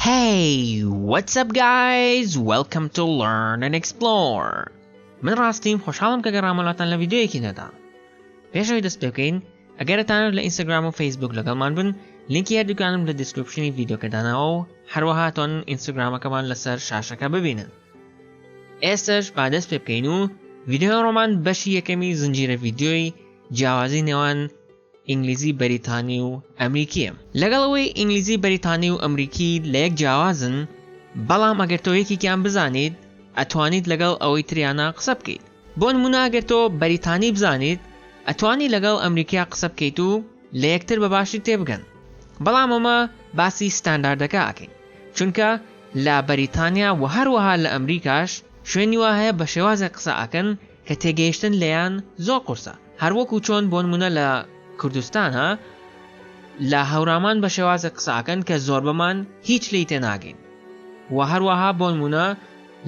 هەی وەتس ئەپ گایز وێلکەم تو لەرن ئەند ئێکسپلۆر من ڕاستیم خۆشحاڵم کە گەڕامە لاتان لە ڤیدیۆیەکی نەدا پێش ئەوی دەست پێ بکەین ئەگەر دەتانەوێت لە ئینستاگرام و فەیسبوک لەگەڵمان بن لینکی هەردووکانم لە دیسکریپشنی ڤیدیۆکە داناوە و هەروەها تۆن ئینستاگرامەکەمان لەسەر شاشەکە ببینن ئێستش با دەست پێ بکەین و ڤیدیۆ ڕۆمان بەشی یەکەمی زنجیرە ڤیدیۆی جیاوازی نێوان ئینگلیزی بەریتانی و ئەمریکیم. لەگەڵ ئەوەی ئینگلیزی بەریتانی و ئەمریکی لە یەک جیاوازن، بەڵام ئەگەر تۆ یەکێکیان بزانیت، ئەتوانیت لەگەڵ ئەوەی تریانا قسە بکەیت. بۆ نموونە ئەگەر تۆ بەریتانی بزانیت، ئەتوانی لەگەڵ ئەمریکیا قسە بکەیت و لە یەکتر بە باشی تێبگەن. بەڵام ئەمە باسی ستانداردەکە ئەکەین، چونکە لە بەریتانیا و هەروەها لە ئەمریکاش شوێنی وا هەیە بە شێوازێک قسە ئەکەن، کە تێگەیشتن لێیان زۆر قورسە هەر وەکو چۆن بۆنمونە لە کوردستانا لە هەورامان بە شێوازێک قسە ئەکەن کە زۆربەمان هیچ لێی تێناگەین وە هەروەها بۆنمونە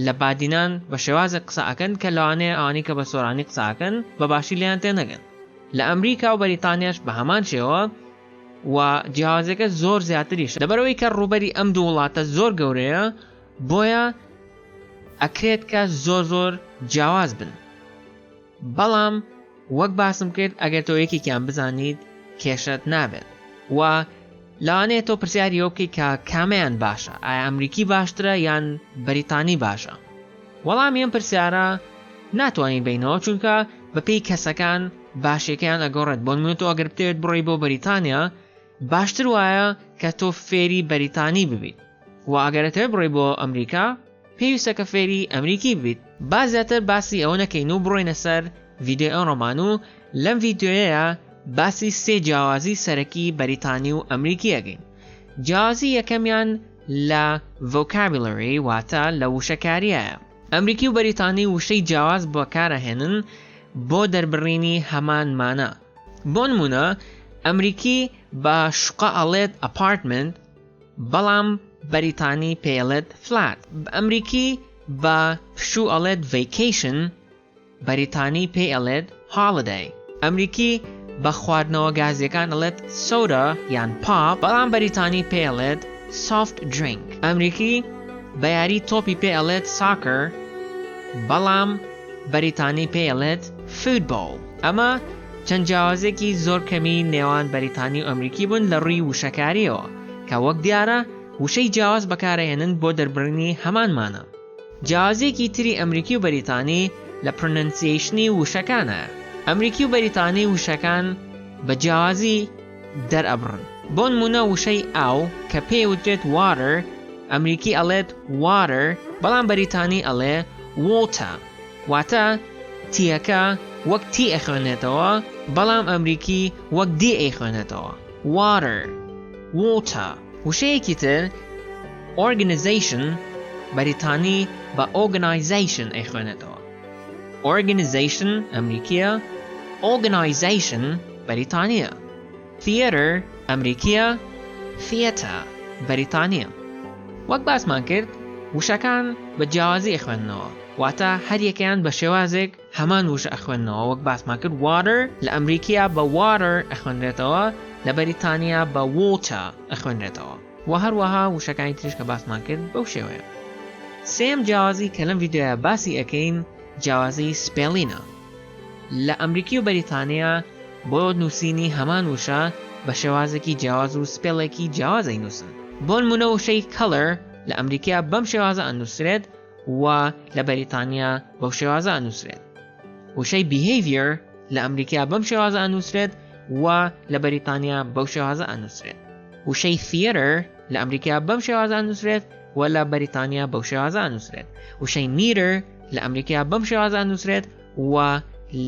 لە بادینان بە شێوازێک قسە ئەکەن کە لەوانەیە ئەوانەی کە بە سۆرانی قسە ئەکەن بە باشی لێیان تێنەگەن لە ئەمریکا و بەریتانیاش بە هەمان شێوە وە جیاوازیەکە زۆر زیاتریشە لەبەرئەوەی کە ڕووبەری ئەم دوو وڵاتە زۆر گەورەیە بۆیە ئەکرێت کە زۆر زۆر جیاواز بن بەڵام وەک باسم کرد ئەگەر تۆ یەکێکیان بزانیت کێشەت نابێت و لەوانەیە تۆ پرسیاری ئەو بکەیت کە کامیان باشە ئایا ئەمریکی باشترە یان بەریتانی باشە وەڵام ئەم پرسیارە ناتوانین بینەوە چونکە بەپێی کەسەکان باشەکەیان ئەگەڕێت بۆن منۆ ئەگەر بتێت بڕی بۆ بەریتانیا باشتر وایە کە تۆ فێری بەریتانی ببیت وە ئەگەر ئەتەوێت بڕۆی بۆ ئەمریکا پێویستە کە فێری ئەمریکی ببیت با زیاتر باسی ئەوە نەکەین و بڕۆینە سەر ڤیدیۆی ئەمڕۆمان و لەم ڤیدیۆیەیا باسی سێ جیاوازی سەرەکی بەریتانی و ئەمریکی ئەگەین جیاوازی یەکەمیان لە ڤۆکابیلری واتە لە وشەکاریایە ئەمریکی و بەریتانی وشەی جیاواز بەکارەهێنن بۆ دەربڕینی هەمان مانا بۆنمونە ئەمریکی بە شوقە ئەڵێت ئەپارتمنت بەڵام بەریتانی پێڵێت فلات ئەمریکی بە پشوو ئەڵێت ڤیکیشن بەریتانی پێ ئەڵێت هاڵدەی ئەمریکی بە خواردنەوە گازیەکان ئەڵێت سەورە یان پا بەڵام بەریتانی پێڵێت سافت درینگ ئەمریکی بە یاری تۆپی پێ ئەڵێت ساکر بەڵام بەریتانی پێیەڵێت Football. ئەمە چەند جیاوازیەکی زۆر کەمی نێوان بەریتانی و ئەمریکی بوون لە ڕووی وشەکاریەوە، کە وەک دیارە وشەی جیاواز بەکارئەهێنن بۆ دەربڕینی هەمان مانا. جیاوازیەکی تری ئەمریکی و بەریتانی لە Pronunciation ی وشەکانە، ئەمریکی و بەریتانی وشەکان بە جیاوازی، دەرئەبڕن بۆنمونە وشەی ئاو کە پێی وترێت Water ئەمریکی ئەڵێت Water بەڵام بەریتانی ئەڵێ Water واتە تیەکە وەک تی ئەخوێنێتەوە بەڵام ئەمریکی وەک دی ئەیخوێنێتەوە Water Water وشەیەکی تر Organization بەریتانی بە Organization ئەیخوێنێتەوە Organization، ئەمریکییە Organisation، بەریتانییە Theatre، ئەمریکییە Theatre، بەریتانییە وەک باسمان کرد وشەکان بە جیاوازی ئەخوێننەوە واتە هەر یەکەیان بە شێوازێک هەمان وشە ئەخوێننەوە وەک باسمان کرد Water، لە ئەمریکییە بە Water، ئەخوێنرێتەوە لە بەریتانییە بە Water، ئەخوێنرێتەوە. وە هەروەها وشەکانی تریش کە باسمان کرد بەو شێوەیە. سێیەم جیاوازی کە لەم ڤیدیۆیە باسی ئەکەین جیاوازی سپێڵینە لە ئەمریکی و بەریتانیا بۆ نووسینی هەمان وشە بە شێوازێکی جیاواز و سپێڵێکی جیاواز ئەینووسن بۆنموونە وشەی Colour لە ئەمریکا بەم شێوازە ئەنووسرێت و لە بەریتانیا بەو شێوازە ئەنووسرێت وشەی Behavior لە ئەمریکا بەم شێوازە ئەنووسرێت و لە بەریتانیا بەو شێوازە ئەنووسرێت وشەی Theatre لە ئەمریکا بەم شێوازە ئەنووسرێت و لە بەریتانیا بەو شێوازە ئەنووسرێت. وشەی Meter لە ئەمریکا بەم شێوازە ئەنووسرێت و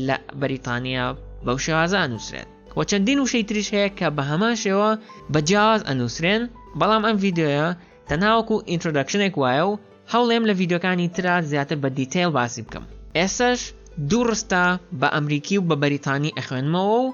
لە بەریتانیا بەو شێوازە ئەنووسرێت. و چەندین وشەی تریش هەیە کە بە هەمان شێوە بە جیاواز ئەنووسرێن، بەڵام ئەم ڤیدیۆیە تەنها وەکو ئینترۆدەکشنێک وایە و هەوڵێم لە ڤیدیۆکانی ترا زیاتر بە دیتەیڵ باسی بکەم. ئێستاش دوو ڕستە بە ئەمریکی و بە بەریتانی ئەخوێنمەوە و،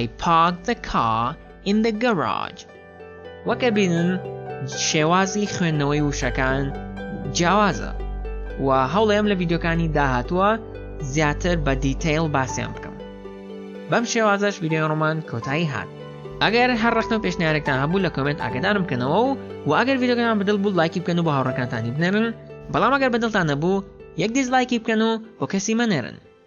I parked the car in the garage. وەک ئەبینن شێوازی خوێندنەوەی وشەکان جیاوازە و هەوڵێم لە ڤیددیوکانی داهاتووە زیاتر بە دیتەیل باسییان بکەم بەم شێوازەش ویددیو ڕۆمان کۆتایی هات ئەگەر هەر ڕخنە و پێشنیارێکتان هەبوو لە کۆمنت ئاگدارم بکەنەوە و و ئەگەر ڤیددیوگەیان بدڵ بوو لایکی بکەن و بە هاوڕەکانتانی بنێرن بەڵام ئەگەر بەدڵتان نەبوو یەک دیزلایکی بکەن و بۆ کەسی مەنێرن